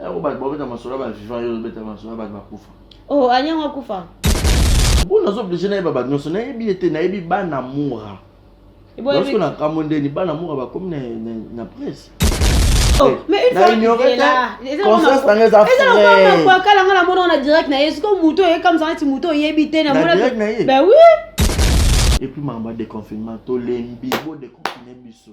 Yango bato babeta masolo ya ba vivant yo obeta masolo ya bato bakufa. Oh, anyango akufa. Bo nazo oblige na yeba bato nyonso nayebi ye te nayebi bana mura. Lorsque na kambo ndeni bana mura bakomi na na presse. Oh, eh, mais une fois ignore là conscience na ngeza frère eza kwa kala ngala mona na direct na yesu ko muto ye comme ça neti muto yebi te na mona ben oui et puis mamba de confinement to lembi bo de confiner biso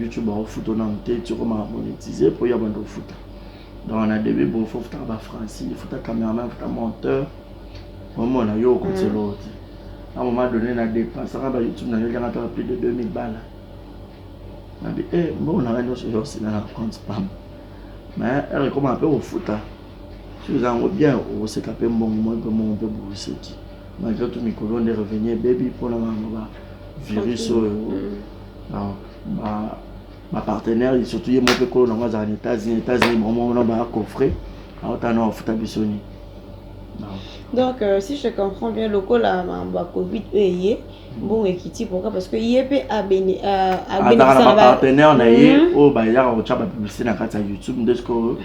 YouTube akofuta nanu te ti okoma monetize mpo ya bando ofuta donc na debut bo fo futaka ba francis futa cameraman futa monteur omona yo okotisa eloko te na moment donné na dépensaka ba youtube na yo eliaka mpaka plus de 2000 bala nabi e eh, mbongo nanga nyonso yo osina na compte pam mais ere ekoma mpe kofuta soki eza yango bien okoseka mpe mbongo moi mpe mbongo mpe bokoseki malgré tout mikolo nde revenu ebebi mpona bango ba virus oyo mm. donc ba ba partenaires surtout ye moko mpe kolo nango azala na Etats-Unis Etats-Unis bango wana ba coffre aotala na bafuta biso nini donc euh, si je comprends bien lokola makambo ya covid oyo eye mbongo ekiti pourquoi parce que ye mpe azalaka na bapartenaire na ye mhm. oyo bayaka kotya bapublicité na kati ya youtube nde sikoyo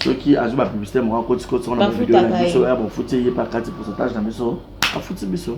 soki azwi bapublicité moko akotikotisa wana bavideo na biso ya bafuti ye mpe akati pourcentage na biso afuti biso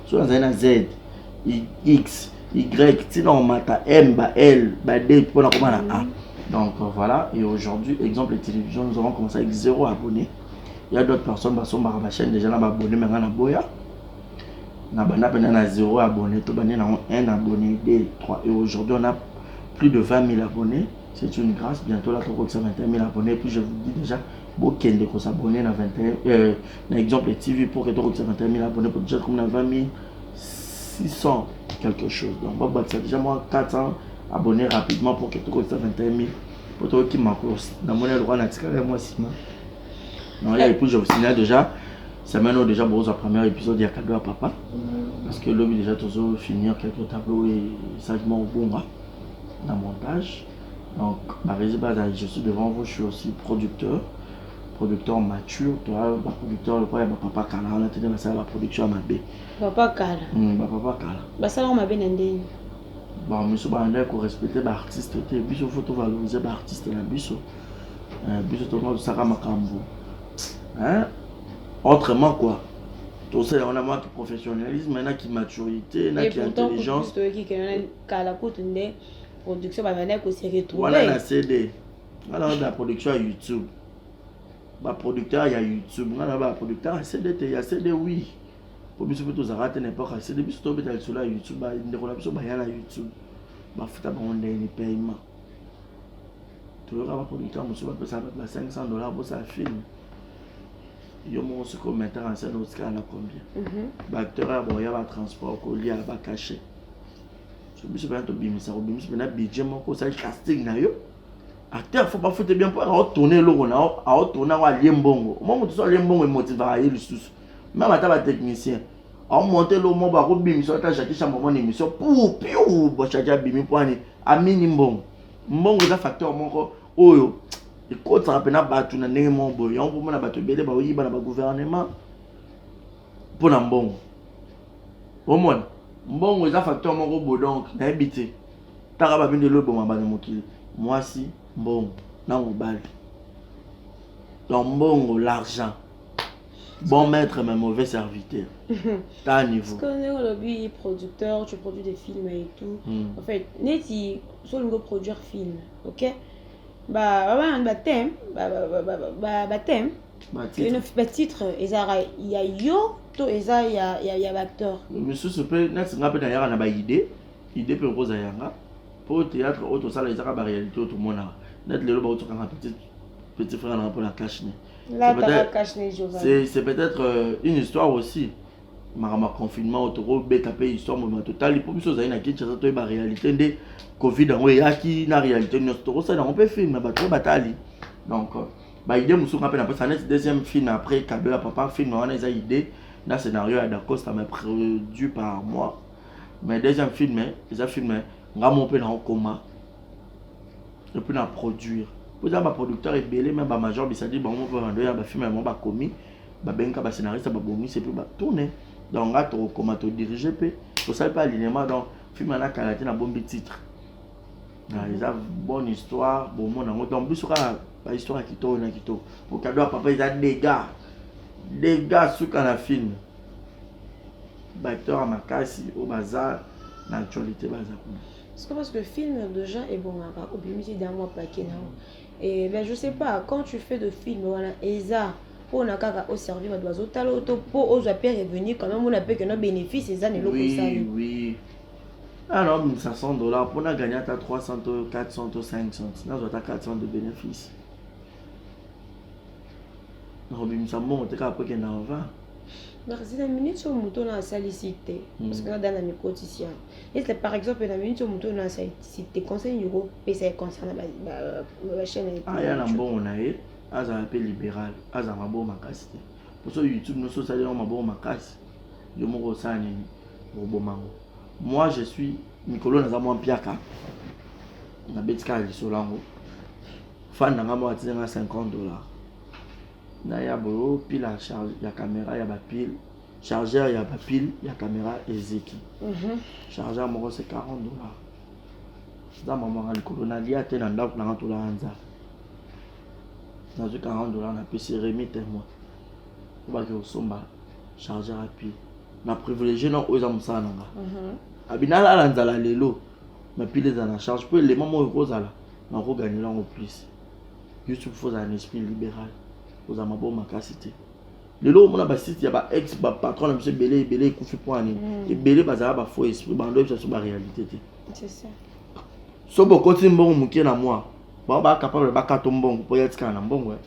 soki nazali na z x y ntina omata m ba l ba d mpona koma na a donc voilà et aujourd'hui exemple télévision nous avons commencé avec zéro abonné il y a d'autres personnes basombaka bachaîne déjà na baabonné me nga na boya na banda mpena na zéro abonné tobandi nango un abonné d 3 et aujourd'hui on a plus de 20 000 abonnés c'est une grâce bientôt là tokokisa 21 000 abonnés puis je vous dis déjà bokende kosabonne na 21 euh, na exemple ya tv mpo ke tokokisa na termine abonne mpo deja komi na 20 600 quelque chose donc babakisa deja mwa 400 abonne rapidement mpo ke tokokisa 21 000 mpo toyoki makos namoni lokola natikala ya mwa nsima non ya épouse obstina déjà semaine oyo déjà bokozwa première épisode ya cadeau ya papa parce que lobi déjà tozo finir quelque tableau oyo esalaki mwa kobonga na montage donc barezi baza je suis devant vous je suis aussi producteur producteur mature to ba producteur lokola ya ba papa kala wana te ba sala ba production mabe papa kala mm, ba papa kala ba sala ko mabe na ndenge ba miso ba ndai ko respecter ba artiste te biso faut to valoriser ba artiste na biso euh, biso to ko saka makambo hein autrement quoi to sala wana ma professionnalisme na ki maturité na ki intelligence to ki kala kutu nde production ba ko se retrouver wana na CD nga na ba production ya youtube ba producteur ya youtube nga na ba producteur ya cd te ya cd oui po biso mpe tozalaka te na epoque ya cd biso tobeta lisolo ya youtube bandeko na biso baya na youtube bafuta bango ndenge ni paiement toyoka ba producteur mosusu bapesa bato na 500 dollar bosala film yo moko soki ometaka nsene otikala na combien baacteur ya boya batransport kolia bacachet so biso mpena tobimisa kobimisa mpena budget moko osali casting na yo acteur fo bafute bien mpo aotone eloko na aotone yango alie mbongo omwa moto so alie mbongo emotivaka ye lisusu meme ata batechnicien aomonte eloko moko bakobimisa ata jakisha momona émission pour piu bashaki abimi mpo ani amini mbongo mbongo eza facteur moko oyo ekotisaka mpena bato na ndenge moko boye yango mpo mona bato ebele baoyiba na bagouvernement mpo na mbongo omona mbongo eza facteur moko bo donc nayebi te taka babino elo eboma bana mokili mwasi mbongo na mobali donc mbongo l'argent bon maître mais mauvais serviteur ta niveau ndenge olobi producteur tu produis des films et tout mm. en fait neti so olingi oproduire film ok ba ba ba ba thème ba ba ba ba thème batitre ezalaka ya yo to eza ya, ya, ya baacteur misusu mpe neti nga mpe nayaka na baide ide mpe okoza yanga mpo théâtre oyo tosala ezaka baréalité oyo tomonaka neti lelo baotokanga petit petit frère nanga mpo na cachne c'est peut-être euh, une histoire aussi makambo ya confinement oyo tokobeta mpe histoire mobima totali mpo biso ozali na kinshasa toyeba réalité nde covid yango eyaki na réalité nyonso tokosalela yango mpe filme bato oyo batali donc euh, ba idée mosusu nga mpe napesa aneti deuxième film après cadeau ya papa film wana eza idée na scénario ya dacosta mais produit par moi mais deuxième film eza film nga mo mpe naokoma epuis na produire mpo eza baproducteur ebele me bamajor bisadi bango mpe bando ya bafilme yango bakomi babengaka bascénariste babongisi mpe batourne donc nga tokokoma todirige mpe tosali mpe alinema donc filme wana kala te nabombi titre Ah, eza bonne histoire bomona yango donc biso kaka bahistoire ya kitoko na kitoko okado ya papa eza dega dega suka na filme baacteur ya makasi oyo baza na actualité baza kuna siko parce que filme deja ebongaka obimisi da mwa pake na yango e ben je sais pas quand tu fais de filme wana eza mpona kaka oservi bato bazotala oyo to mpo ozwa mpe revenu quand même ona mpe keno bénéfice eza na eloko esali oui, oui. Ah non, 1500 dollars, pour gagner à 300, 400, 500, là, je 400 de bénéfices. nakobimisa mbongo te kaka po ekenda ova nakasi na minute oyo moto oyo nasalisi te hmm. parce que nada na mikotisi yango ese par exemple na minute oyo moto oyo nasalisi te conseil nini okopesa ye concerne bachaine aya ah, na mbongo na ye azala mpe libéral azala mabongo makasi te mposo youtube nyonso osali yango mabongo makasi yo moko osala nini okoboma yango moi je suis mikolo naza mwa mpiaka nabeti kaka lisolo yango fani na ngai moko atiza ngai 50 dollar naya boyo pile ya caméra ya bapile chargeur ya bapile ya caméra eziki mhm. chargeur moko se 40 dollar eza mamanga likolo nalia te na ndako nanga tolaa nzala nazwi 40 dollar napesi remi temoin obaki kosomba chargeur ya pied na privilégie na oyo eza mosala na nga mhm. abi nalala nzala lelo ma pile eza na charge mpo elema moko ekozala nakoganela yango plus youtube fo ozala na esprit libéral ozala maboko makasi te lelo omona basite ya baex bapatron na biso ebele ebele ekufi mpo ani mm. ebele bazala bafaux esprit bando bisaso baréalité te so bokoti mbongo moke na mwa bango bacapable bakata mbongo mpo yatikala na mbongo eh.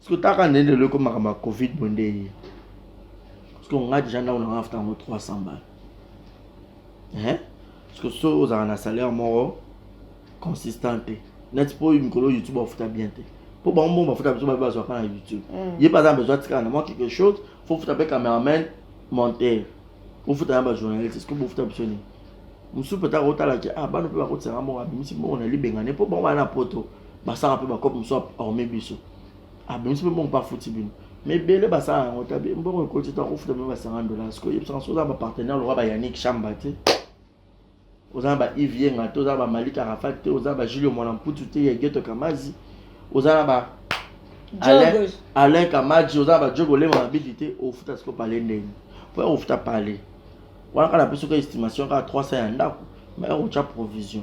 Siko taka nde lelo ekoma makambo ya Covid boye nde eye. Siko nga deja ndako na nga nafuta yango 300 balles. Hein? Siko so ozalaka na salaire moko consistant te. Neti po mikolo YouTube bafuta bien te. Po bango moko bafuta biso babe bazwa pa na YouTube. Mm. Ye baza na besoin atikala na mwa quelque chose, faut futa pe cameraman, monteur. Faut futa na ba journaliste, siko bofuta biso nini? Mususu peut-être akotala ke ah bano pe bakotisanga moko abimisi moko na libengane po bango bana poto. basaka mpe bakope mosusu aorme biso abimisi mpe mbongo mpe afuti bino ma ebele basala yango ta mbongo ekoti to akofuta bino ba 50 dollars sikoyo yebisaka soki oza na bapartenaire lokola bayanik shamba te oza na ba ive yenga te oza na bamalika rafa te oza na bajulio mwana mputu te ya geto kamazi oza na ba alain, alain kamaji oza na bajogo olema mabidi te ofuta sikoyo pale ndeni mpo ya kofuta pale wana kaka napesi ko estimation kaka 300 ya ndako ma ya kotya provision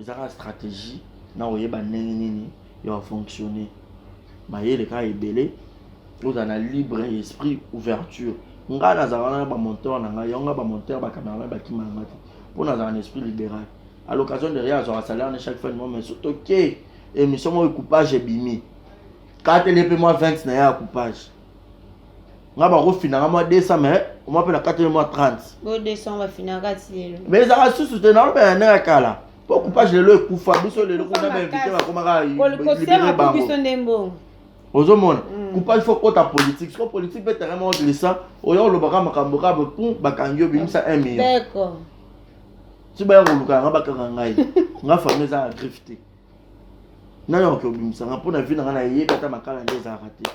eza kaka stratégie na oyeba ndenge nini ya bafonctionne mayele kaka ebele ozala na libre esprit ouverture ngai nazala wana na bamonteur na ngai yango ngai bamonteur bacameraman bakima na ngai te mpo nazala na esprit libéral à l'occasion de rien azwaka salaire ne chaque fin de mois mais soki toke émission moko coupage ebimi katele mpe mwa 20 na ye ya coupage nga bakofinanga mwa 200 mais omwa mpe na kati mwa 30 mais ezalaka susu te naolobela nde ya kala po coupage lelo ekufa biso lelo kuna bainvite bakomaka libere bango ozomona mm. coupage fo kota politique siko politique mpe terrain moko glissa oya olobaka makambo kaka pum bakangi yo bimisa 1 million ti baya koluka yanga bakanga ngai nga famille eza na griffe te nayo oke obimisa nga mpo na vi na nga nayebi ata makala nde ezalaka te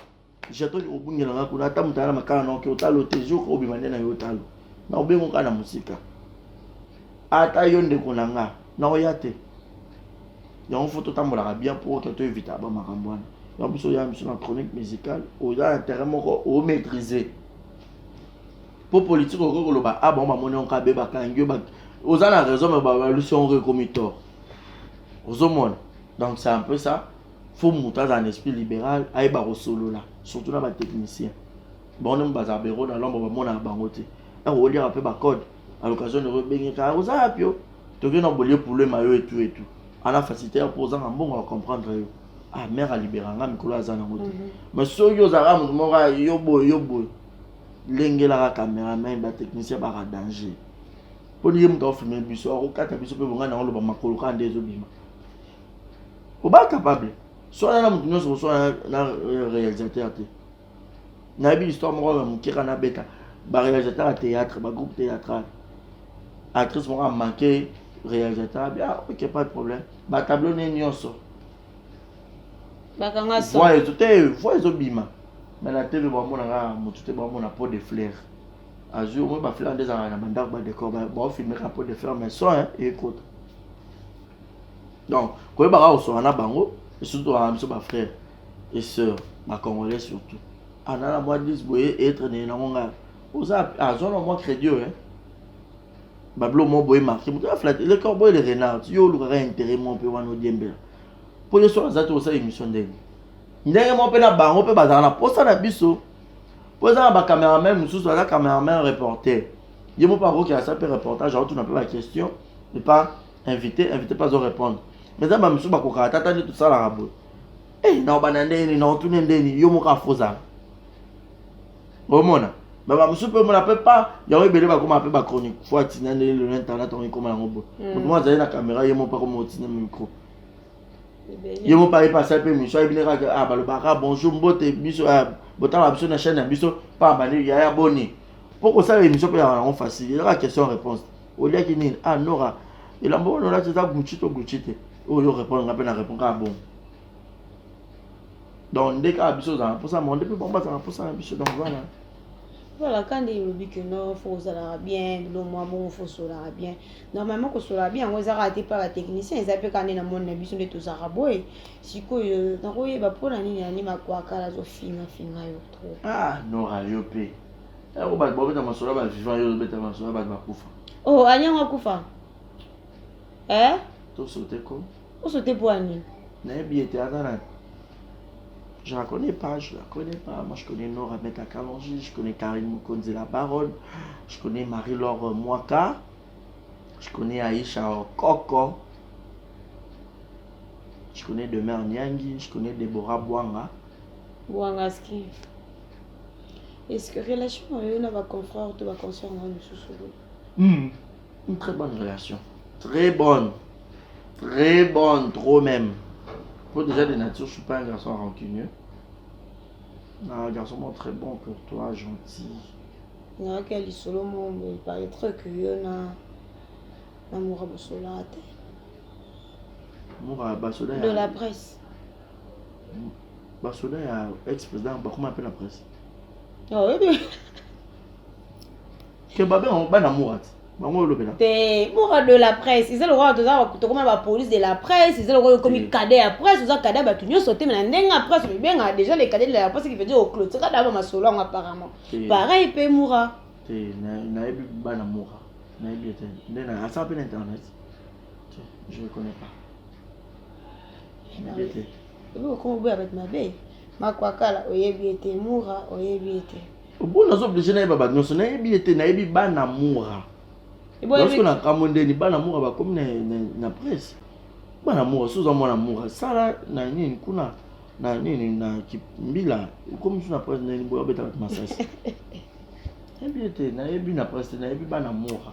Jeton obungela nga kuna ata mutana makala na oke otalo te jour obima nde na yo otalo na obengo kaka na mosika ata yo ndeko na nga na oya te yango fo totambolaka bien mpo oke to evita ba makambo wana ya biso oya biso na chronique musicale oza na terrain moko omaîtrise mpo politike okoki koloba a ah, bango bamoni yango kabe bakangi yo oza na raison me babalusi yango ekomi tort ozomona donc c'est un peu ça faut moto azala na esprit libéral ayeba kosolola surtout na batechnicien bango nde bazala bero na lombo bamonaka bango te ntango oliaka mpe bacode à l'occasion noko ebengeka ah, oza yapi yo tokei na bolie poulo ema yo etu etu ana facilité ya mpo ozanga mbongo ya comprendre yo ah mère alibera nga mikolo aza nango te mhm. mais soki ozalaka moto moko ah, yo boye yo boye lengelaka cameraman batechnicien baka danger mpo niye moto afilme biso akokata biso mpe bongai nango loba makolo kaka nde ezobima oba capable swana na moto nyonso koswana na euh, réalisateur te nayebi histoire moko ya moke kana abeta baréalisateur ya théâtre bagroupe théâtral actrice moko amanke réalisateur abi ah ok pas de problème batableau ne nyonso voix ezo te voix ezobima me na tv bamonaka motu te bamona pot de flair azwi omoi baflair nde ezalaka na bandako badécor baofilmeka pot de flair mais soin ekota donc koyeba kaka koswana na bango surtout tokaka biso bafrère et sœur bacongolais surtout anana ah, mwa 10 boye etre nini nango ngai oza azwana ah, mwa crédit oyo eh. bablo mo boye marke moto aflate le corbeau et le renard yo olukaka intérêt mo mpe wana odiembela mpo ye soki aza te osala émission ndenge ndenge mo mpe na bango mpe bazalaka na mposa na biso mpo eza na bacameraman mosusu aza cameraman reporter ye mo mpe akokela sa mpe reportage aotuna mpe baquestion epa invité invité pas répondre mais eza bamisusu bakokaka tata nde tosalaka boye eh, naobanda ndeni naotune ndeni yo moko afozala omona mais bamosusu mpe omona mpe pa yango ebele bakoma mpe bachronique fo atina nde lelo na internet yango ekoma yango boye mm. moto moko azali na caméra ye moko mpe akoma otina micro ye moko ayebi asali mpe émission ayebi nde kaka ah, balobaka bonjour mbote biso ah, botala biso na chaîne ya biso mpa bani yaya boni mpo kosala émission mpe yango facile ezaka question réponse oliaki nini ah nora elamba wana olati eza gucci to gucci te oyo orépondre nga mpe na répondre kaka bongo donc nde kaka biso ozala na mposa moko nde mpe bango bazala na mposa na biso donc voilà voilà kandi elobi ke no fo ozalaka bien bilo mwa bongo fo osolaka bien normalement kosolaka bien yango eza kaka te mpe batechnicien eza mpe kaka nde na moni na biso nde tozalaka boye sikoyo nakoyeba mpo na nini ani makwakala azofingafinga yo trop ah nora yo mpe Yango bato babeta masolo ya ba vivant yo obeta masolo ya bato bakufa. Oh, anyango akufa. Eh? To sote ko. O sote po ani. Na yebi ete aza na je la connais pas, je la connais pas. Moi, je connais Nora Beta Kalonji, je connais Karine Mokonzi, la baronne, je connais Marie-Laure Mwaka, je connais Aïcha Koko, je connais Demeure Nyangi, je connais Deborah Bwanga. Bwangaski. Est-ce que relation na yo na ba confrères to ba consoeurs na yo mosusu oyo? Hmm. Une très bonne relation. Très bonne. Très bonne, trop même. Faut déjà de nature, je suis pas un garçon rancunieux. Un garçon moi, très bon pour toi, gentil. Na yaka lisolo mo mo il paraîtrait que yo na na mura bosola te. Mura basola. De la presse. basoda ya ex président bakoma mpe na presse ke babe yango bana murat bango olobela te murat de la presse eza lokola toza tokoma ba police de la presse eza lokola okomi cadet ya presse oza cadet ya bato nyonso te mais na ndenge ya presse obibengaka déjà le cadet de la presse qui veut dire oclotira daba masolo yango apparemment pareil mpe murat te nayebi bana murat nayebi ete nde asala mpe na internet je ne connais pas okoboya bato mabe makwakala oyebi ete mura oyebi ete mpo nazo oblige nayeba bato nyonso nayebi ete nayebi bana mura lorsque nakamwe ndeni bana mura bakomi na presse bana mura soza mwana mura sala na nini kuna na nini na mbila ekomi so na presse ndeni boyo abeta bato masasi nayebi ete nayebi na presse nayebi bana mura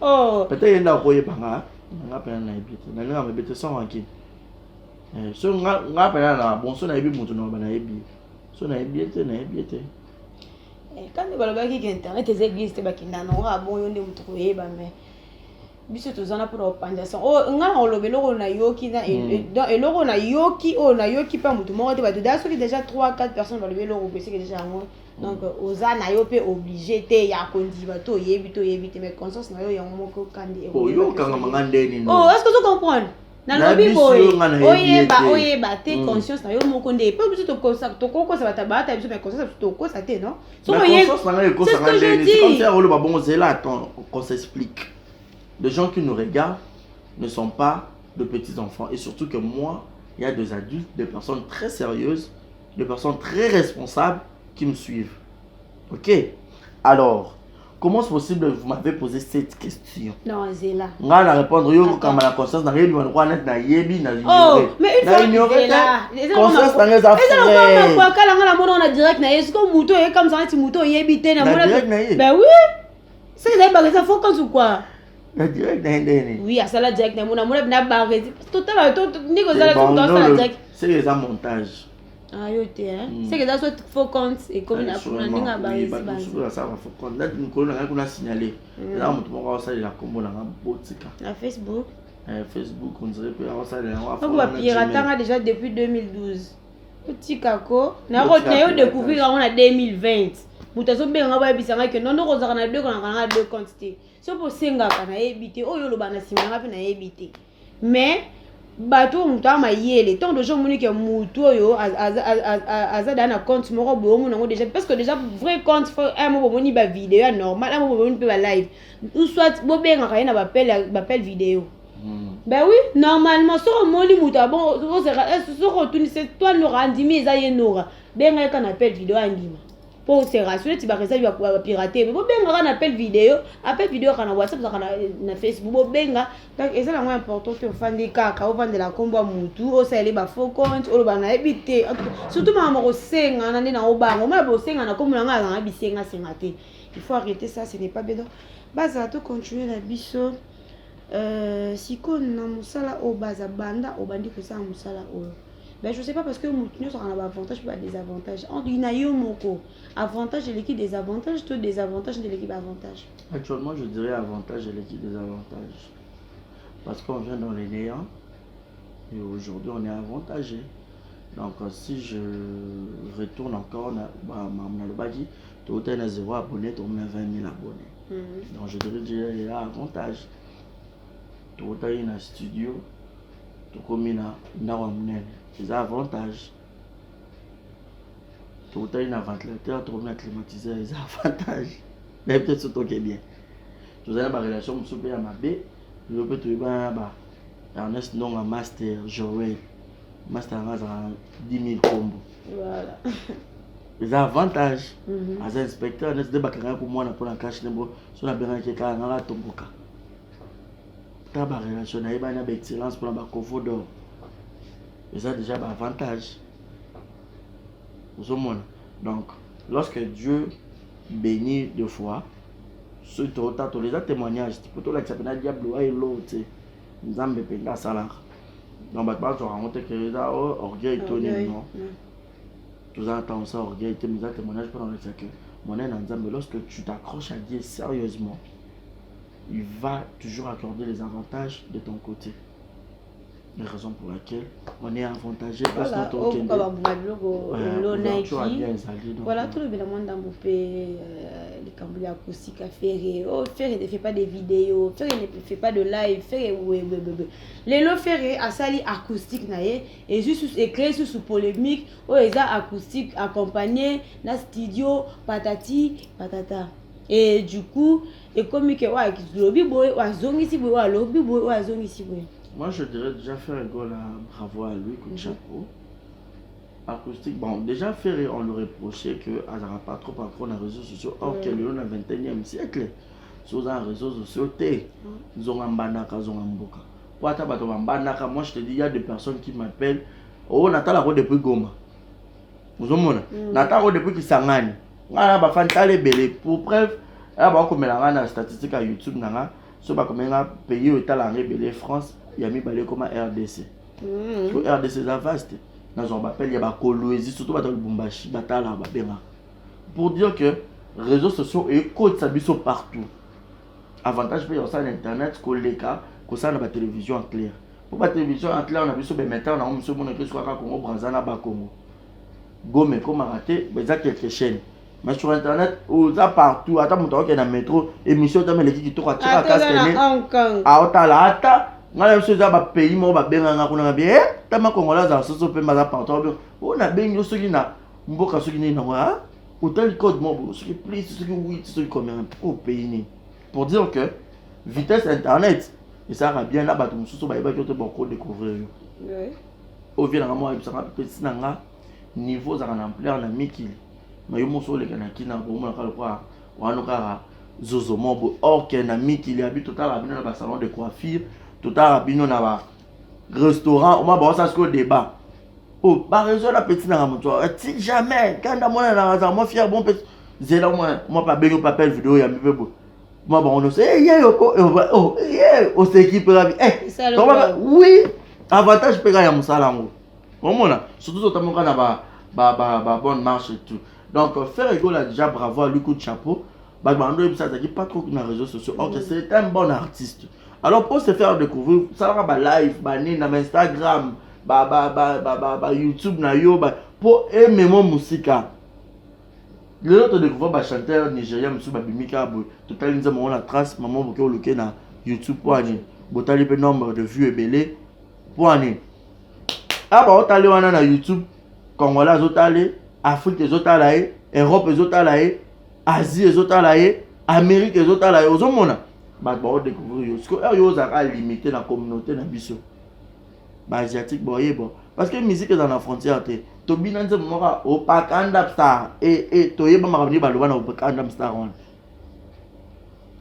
oh. peut-être ye nde akoyeba nga nga mpena nayebi te nalinga mayebi te sans rankine eh, so nga mpena na bon so nayebi moto naloba nayebi so nayebi ye te nayebi ye te eh, kandi balobaki ke internet eza eglise te bakenda nango abon yo nde moto koyeba mais biso toza na mpona kopanza sango oyo oh, ngai na koloba eloko oyo nayoki na hmm. e, donc eloko oyo nayoki oyo nayoki mpe motu moko te bato daa soki déjà 3 4 personnes balobi eloko boye seke déjà yango donc oza na yo mpe oblige te ya kondima to oyebi to oyebi te mais conscience na yo yango moko kandi oyokanga manga ndeni no oh est-ce que tu comprends nalobi boye oyeba oyeba te mm. conscience na yo moko nde mpe biso tokokosa bato baata biso mais conscience biso tokokosa te non sokoyeoloba bongo zela attend qu'on s'explique les gens qui nous regardent ne sont pas de petits enfants et surtout que moi il y a des adultes des personnes très sérieuses de personnes très responsables qui me suivent. Ok Alors, comment c'est possible vous m'avez posé cette question Non, c'est là. Nga na répondre yo ko kama la conscience na yebi wana wana na yebi na ignorer. Oh, mais une fois ignorer là. Conscience na nga za frère. Eza kwa kala nga na mona na direct na yesu ko muto ye comme ça ti muto yebi te na mona. Direct na ye. Ben oui. C'est là ba ça faut quand ou quoi na direct na ye ndenge nini oui asala direct na mona mona na barreti totala ndenge ozala soki asala direct seke eza montage ayo te seke eza so faux compte ekomi na ndenge ya barretibamosusu asalaka faux compte nati mokolo na ngai kuna signale eza moto moko aosalela nkombo na ngai botika na facebook eh, facebook on dirait mpe aosalela yango apo bapiratanga déjà depuis 2012 otika ko nayo découvrir yango na 2020 moto azobenga ngai bayebisa ngai ke nondo kozalaka na deux konaka nanga deux compte te soki osengaka nayebi te oyo oloba na nsima yanga mpe nayebi te mais bato oyo moto aa mayele ntango deja omoni ke motu oyo aza daa na compte moko boye omona yango deja parce que deja vrai compte fo un mo bomoni bavideo ya normal un mo bomoni mpe balive ou soit bobengaka ye na bapele video hmm. ben oui normalement soki omoni moto abon soki otunisi toi nora andimi eza ye nora benga ye ka na apele video andima po serasi neti baresabi bapirate bo benga kaka na appel video appel video kaka na whatsapp ezaka na facebook bobenga donc eza nango important te ofandi kaka ovandela nkombo ya motu osaleli bafaux compte oloba nayebi te surtout makambo ya kosengana nde nango bango omona bosengana nkombo na ngai azanga bisengasenga te il faut arrêter ça ce n'est pas bien donc bazala to continuer na biso Euh, sikoyo na mosala oyo baza banda obandi kosala mosala oyo ben je sais pas parce que moto nyonso akana baavantage mpe badesavantage entre na yo moko avantage eleki desavantage to desavantage nde eleki baavantage actuellement je dirais avantage eleki desavantage parce qu'on vient dans le néant et aujourd'hui on est avantagé donc si je retourne encore na bamambo nalobaki tokotaki na zero abonné tokomi na 20 000 abonné mhm. donc je devais dire ya avantage tokotaki na studio tokomi na ndako ya monene eza avantage tokotaki na ventilateur tokomi na climatiseur eza avantage mais peut-être so toke bien tozali na barelation mosusu mpe ya mabe lelo mpe toyebana na ba ernest ndonga master joel master yango azalaka 10 000 kombo voilà eza avantage mhm. aza inspecteur neti nde bakangaki komwana mpo na kashe nembo so nabengaki kaka ngaka atomboka ta barelation nayebani na baexcellence mpo na bacovo dor eza déjà baavantage ozomona donc lorsque dieu béni de foi soki totatola eza témoignage te mpo tolakisa mpena diable wa elo te nzambe mpenza asalaka donc bato bazwaka yango te ke eza oh, orgueil to nini non mm. toza na ntango sa orgueil te mais eza témoignage mpo na kolekisa ke monene na nzambe lorsque tu t'accroches à dieu sérieusement il va toujours accorder les avantages de ton côté la raison pour laquelle on est avantagé parce que tokende babuma biloko elonaki voilà tolobela mwa ndambo mpe euh, likambo ya kosika fere o oh, fere ne fait pas des vidéos fere ne fait pas de live fere webebebe lelo fere asali acoustique na ye ezwi susu eclaire susu polemique oyo eza acoustique accompagne na studio patati patata e du coup ekomi ke oyo alobi boye oyo azongisi boye oyo alobi boye oyo azongisi boye moi je dirais déjà faire gola bravo à lui coup de mhm. chapeau acoustique bon déjà ferre on le reprochait que azalaka pas trop accro na réseaux sociaux or que lelo na 21e siècle soza na réseaux sociaux te mhm. nzonga mbandaka zonga mboka po ata bato bambandaka moi je te dis ya de personnes qui m'appelle o oh, natalako depuis goma ozomona mm. natalako depuis kisangani ngai na bafani tala ebele pour preuve ya bakomela ngai na statistique ya youtube na ngai so bakomeli ngai pays oyo etala yango ebele france ya mibale ekoma rdc mm. po rdc eza vaste nazwa bapele ya bakoloezi surtout bato ya lubumbashi batala babengaka pour dire que réseaux sociaux ekotisa biso partout avantage mpe ya kosala na internet koleka kosala na batelevision ya claire mpo batelevision ya claire na biso bemetar nango mosu emonaki esuka kaka kongo branza na bakongo gome ekomaka te eza quelque chaîne mais sur internet oza partout ata moto akokende na metro émission tama eleki kitoko atika kaskene aotala ata ngai na biso eza bapays moko babenganga kuna na bie tama kongola azala soso mpe baza partout oyo nabengi yo soki na mboka soki nini nango otali code mwa boye soki plus soki wit soki combien mpo opeyi nini pour dire que vitesse internet esalaka bien na bato mosusu bayebaki ote boko découvrir yo oyo vie nanga mwa yebisaka mpesi na nga niveau ozalaka na ampleur na mikili ma yo moso oleka na kina bomonaka lokola wana kaka zozo moko boye or ke na mikili ya bi totalaka bino na basalon de coiffure totalaka bino na ba restaurant oma baosa sikoyo débat o oh, baraison na petit nanga moto ati jamais kanda mwana nanga azala mwa fier bon petit zela mwa mwa babengi papel video yambi mpe boye mwa bango nyonso eh, ye yoko eh, oh, ye oseki mpe kabi oui avantage mpe kaka ya mosala yango omona surtout totamboka na ba ba ba ba bonne marche et tout donc faire egola déjà bravo à lui coup de chapeau bato bando oyebisa azalaki pas trop na réseau sociaux ok c'est un bon artiste alors pour se faire découvrir salaka ba live banini na bainstagram ba, ba, ba, ba, ba, ba youtube na yo ba, mpo ememo mosika lelo todécouvrir bachanteur nigérien mosusu babimi kaka boye totali nzambe yango na trace mama boke oluke na youtube mpo ani botali mpe nombre de vue ebele mpo ani a baotali wana na youtube congolais azotali afrique ezotala ye europe ezotala ye asie ezotala ye amerike ezotala ye ozomona bato baodecouvrir yo sikoyo oyo ozalaka limite na communauté na biso baasiatique boyebwa parce que musique eza na frontière te tobina nzembo moko opakanda star e, e, toyeba makambo nini baloba na opakanda star wana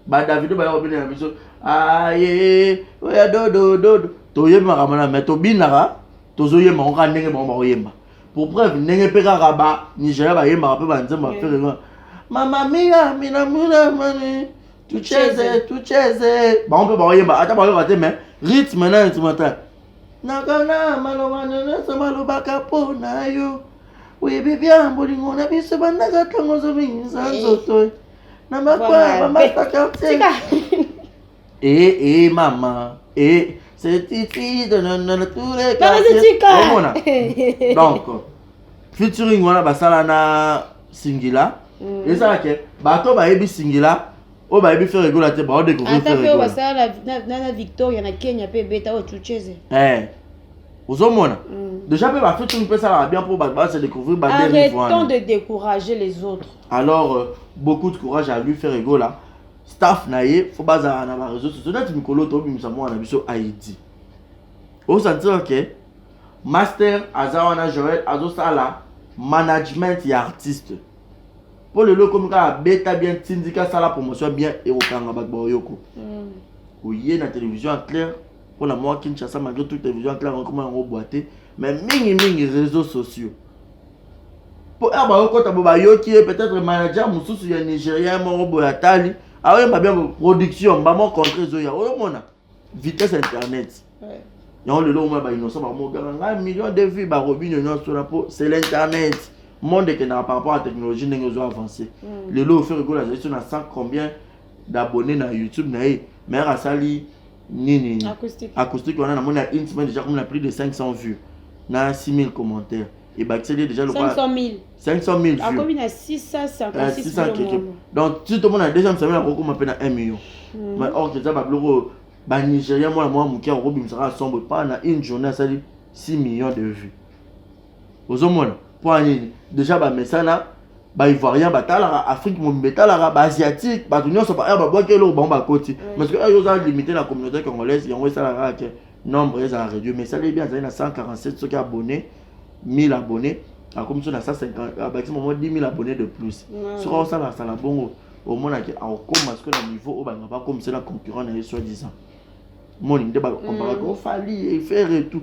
badavido baya kobina na biso aye oya dodododo toyebi makambo na me tobinaka tozoyemba ngo kaka ndenge bango bakoyemba pour preuve ndenge mpe kaka ba nigeria bayembaka mpe banzembo ya fere wana mama mia minamuna mani tucheze tucheze bango mpe bakoyemba ata bayoka te mais rythme na instrumental nakana maloba nyonso malobaka mpo na yo oyebi bya bolingo na biso bandaka ntango ozobingisa nzoto na makwaya bamasaka te ee eh, ee eh, mama ee eh, certitude nanana tous les quartiers omona donc featuring wana basala na singila mm. ezala ke bato bayebi singila oyo bayebi fere egola te baodecouvrir fere egola basala na victoria na kenya mpe ebeta oyo chucheze ozomona mm. déjà mpe bafeti mpe esalaka bien mpo bato base découvrir baarrêtons de décourager les autres alors euh, beaucoup de courage à lui faire egola staff na ye fo bazala na ba réseaux sociaux neti mikolo tobimisa mwana na biso haïti osantir ke master aza wana joel azosala management ya artiste mpo lelo ekomi kaka beta bien tindika sala promotion bien ekokanga bato baoyoko mm. oye na télévision ya claire mpo na mwa kinshasa malgré tout télévision ya claire ekoma yango bwa te mais mingimingi réseaux sociaux mpo awa bakokota bo bayoki ye peut-être manager mosusu ya nigérien moko boye atali aoyemba bien production mbamo contre ezoya oyomona vitesse internet yango lelo omona bainnoncent bakomogaka ngai million de vie bakobino nyonso na mpo c'est l'internet monde ekendaka par rapport ya technologie ndenge ezo avance mm. lelo ofere kola azali so na 100 combien d'abonné na youtube na ye mais asali nini acoustique wana namoni ya une semaine déjà comme na plus de 500 vues na 6000 commentaires ebakiseli déjà lokola 500 000 vues akomi na 656 keke donc si tomona deuxième semaine akokoma mpe na 1 million hmm. mais or eza babiloko oyo banigérien mwana mwa moke akobimisaka asombo epa na une journée asali 6 millions de vues ozomona mpo nini deja bamesana baivoirien batalaka afrique mobimba etalaka baasiatique bato nyonso baheure babwaki eloko bango bakoti parce que heure oza limité na communauté congolaise yango esalaka kaka te nombre ezala réduit mais esali ebi azali na 147 soki abonné 1000 abonné akomi so na 150 abakisi momo 10 000 abonné de plus soki aosala asala bongo omonaki akokoma soki na niveau oyo balinga bakomisela concurrent na ye soi disant moni nde bakomparaka ofali efere tout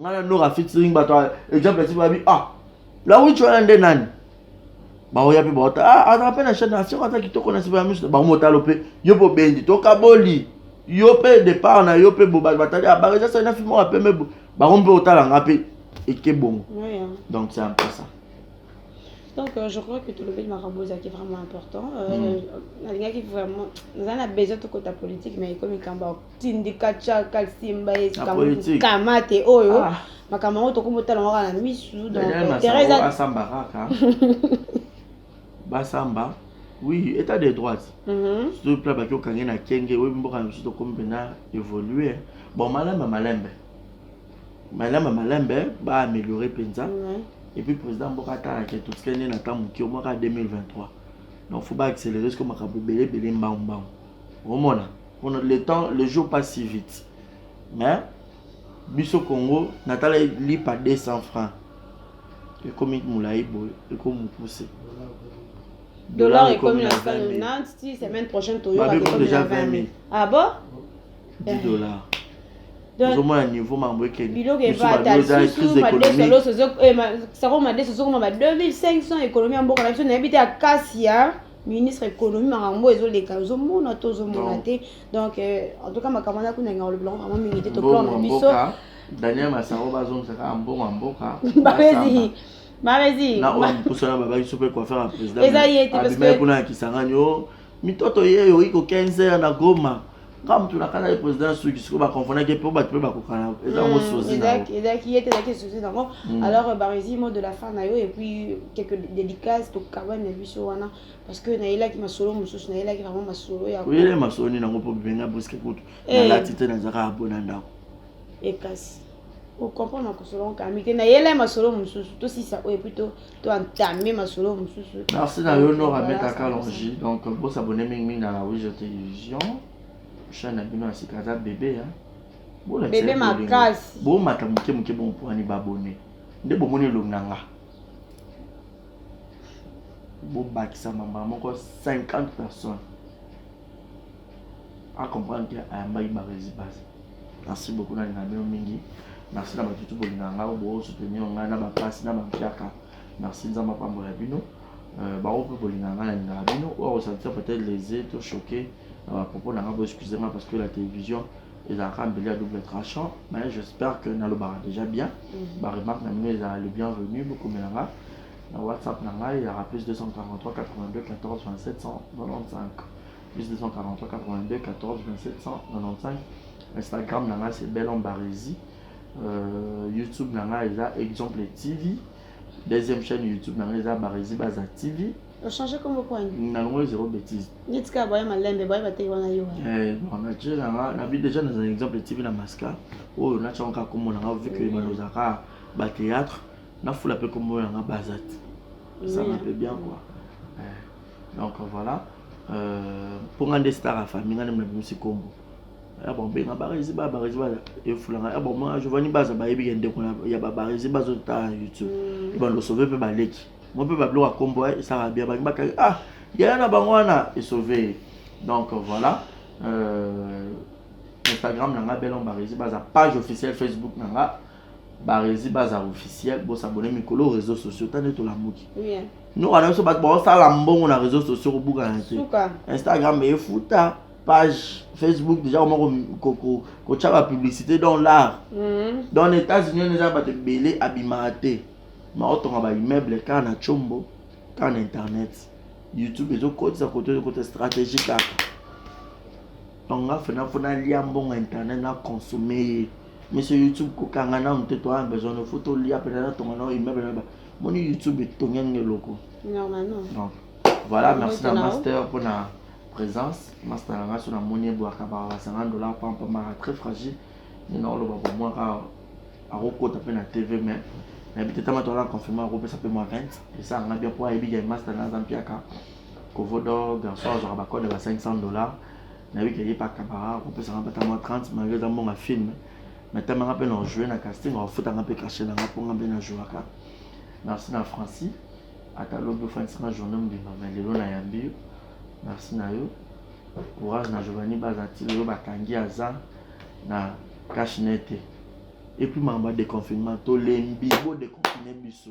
ngai na nora featuring bato exemple ti babi ah lawichi wana nde nani baoya mpe baota ah, azala mpe na chaine asioko aza kitoko na siba ya miso bango motalo mpe yo mpe obendi tokaboli yo mpe départ na yo mpe bobato batali abaka ah, eza sali na filme oyo pembe bango mpe otala nga mpe eke bongo donc c'est un peu ça donc euh, je crois que tolobeli makambo ezalaki vraiment important euh, mm. nalingaki vraiment naza na besoin tokota politique mais ekomi likambo tindika chaka simba kamate oyo ah. makambo yango tokomi otala yango kaka na misu donasamba kaka basamba oui état de droite mhm. surtout pla baki okange na kenge oyebi mboka na biso tokomi mpena évolue bon malembe malembe malembe malembe baaméliore mpenza mhm. epuis président mboka atalaka totikali nde na ntango moke omwaka 2023 donc fo baaccélere siko makambo ebele ebele mbangu mbangu omona Bon, le temps, le jour passe si vite. Mais, biso Congo, natala lipa 200 francs. ekomi molai boye ekomopuse dollar ekomi na 20 000 semaine prochaine toyoka déjà 20 000 ah bon 10 eh. dollars ozomona niveau mambo ekebiloko evatasakoma 2500 ekonomi ya mboka na biso nayebi te ya kasi ya ministre économie makambo ezo leka ozo mona to ozo mona te donc euh, en tout cas makambo na kuna nga olobela vraiment mingi te to plan na biso Daniel Masaro bazongisa kaka mbongo ya mboka babezi babezi na oyo mposo na babaki so mpe coiffeur ya président eza ye te parce que kuna ya Kisangani o oh, mitoto ye oyi ko 15 heures na Goma nga mutu nakana ye président ya suki sikoyo baconfondaki mpo bato mpe bakokana eza yango sozi ezalaki ye te ezalaki sozi nango alors euh, baresi mot de la fin na yo et puis quelque dédicace tokabani na biso wana parce que nayelaki masolo mosusu nayelaki vraiment masolo ya oyele masolo nini yango mpo bibenga briske kutu eh. nalati te nazaka abona ndako ekasi eh, ocomprendre na kosolonka ami te nayela masolo mosusu tosisa oyo epuis to entame masolo mosusu merci na yo nora meta kalongi donc bosabone mingimingi na wijo télévision chaîne na bino ya sika aza bebe ya bebe makasi bomata moke moke bompoani babone nde bomoni elongi na nga bobakisa mambala moko 50 personnes a comprendre que ayambaki barezi base merci beaucoup nalinga bino mingi merci na bato tu bolingaka ngai oyo bosoutenir ngai na bapasi na bampiaka merci nzambe apambola bino euh, bango mpe bolingaka ngai nalingaka bino oyo akosantir peut-être lese to choqué na bapropos na ngai boexcuse ngai parce que la télévision ezalaka mbeli ya double tranchant mais j'espère que nalobaka déjà bien mhm. baremarque na bino ezala le bienvenu bokomela ngai na whatsapp na ngai ezalaka plus 243 82 14 27 195 plus 243 82 14 27 195 instagram na ngai c'est belon baresi euh, youtube na ngai eza exemple tv deuxième chaîne youtube na ngai eza baresi baza tv ochange kombo kwani nango zero bétise neti kaka boye malembe boye bateki wana yo eh, natie nanga nabi déjà naza exemple tv na masca oyo natiango kaka kombo nanga vu que balozaka bathéâtre nafula mpe kombo nanga bazat esanga mpe bien quoi eh. donc voilà euh, mpo nga nde star ya famille nga nde nabimisi nkombo ya babenga barezi ba barezi ba efulanga ya bamona giovanni baza bayebi ke ndeko ya babarezi bazotala na youtube mm. bandosove mpe baleki mo mpe babiloko ya nkombo eh, esaka bia bangi bakaki ah yaya na bango wana esove donc voilà euh, instagram na nga belon barezi baza page officielle facebook na nga barezi baza officiel bo s'abonner mikolo réseaux sociaux tande tolamuki yeah. nyoka na biso bato baosala mbongo na réseaux sociaux kobuka na te instagram efuta page facebook déjà koma kotya bapublicité dans l'art mm-hmm. dans les états-unis wana eza bato ebele abimaka te maotonga baimmeuble kaka na combo kaka na internet youtube ezokotisa koto ezokota stratégie kaka tonga fenafo nalia mbongo internet na consomme ye Monsieur YouTube kokanga nanu te toa besoin no faut tolia mpenza na tonga nao immeuble na ba moni YouTube etongi yango eloko donc voilà merci na master mpo na présence master na ngai so namoni ebwaka ba 50 dollars pampa mara très fragile nde naoloba bomwaka akokota mpe na tv mais nayebi te tama toala confirme akopesa mpe mwa 20 esala ngai bien mpo ayebi game master na aza mpiaka kovodo garçon azwaka bacode ya ba 500 dollars nayebi ke ye mpe akabaka akopesaka mpe ata mwa 30 malgre eza mbongo ya film me ata manga mpe na ojoue na casting akofutanga mpe kashe nanga mpo nga mpe na jouaka merci na francis ata lobi ofandisanga journée mobimba me lelo nayambi yo merci na yo courage na giovanni baza ti lelo bakangi aza na cache nete epuis makambo ya déconfinement tolembi bodeconfine biso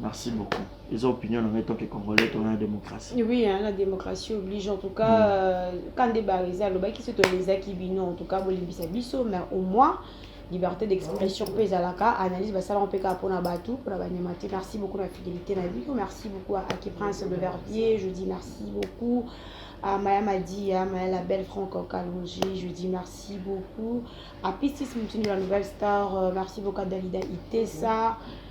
Merci beaucoup. Ils ont opinion en tant que Congolais, on a la démocratie. Oui, hein, la démocratie oblige. En tout cas, mm. euh, quand des barisa, le baki se tolisa qui bino, en tout cas, bolimbisa biso, mais au moins, liberté d'expression mpe ezalaka analyse basalaka mpe kaka mpona bato mpona banyama te merci beaucoup na fidélité na bino merci beaucoup à aki prince de vervier je dis merci beaucoup à maya madia maya la belle franco kalongi je dis merci beaucoup à pistis mutini la nouvelle star euh, merci beaucoup à dalida itesa mm -hmm.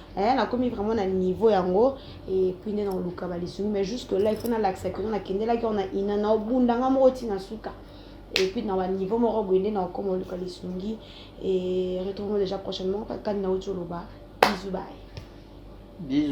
eh, nakomi vraiment na niveau yango epuis nde naoluka balisungi mais jusque là ifo nalakisa kino nakendelaki ona ina naobunda nga moko ntina suka epuis na baniveau moko boye nde naokoma oluka lisungi e retrouve déjà prochainement kani nauti oloba bizu baye bizu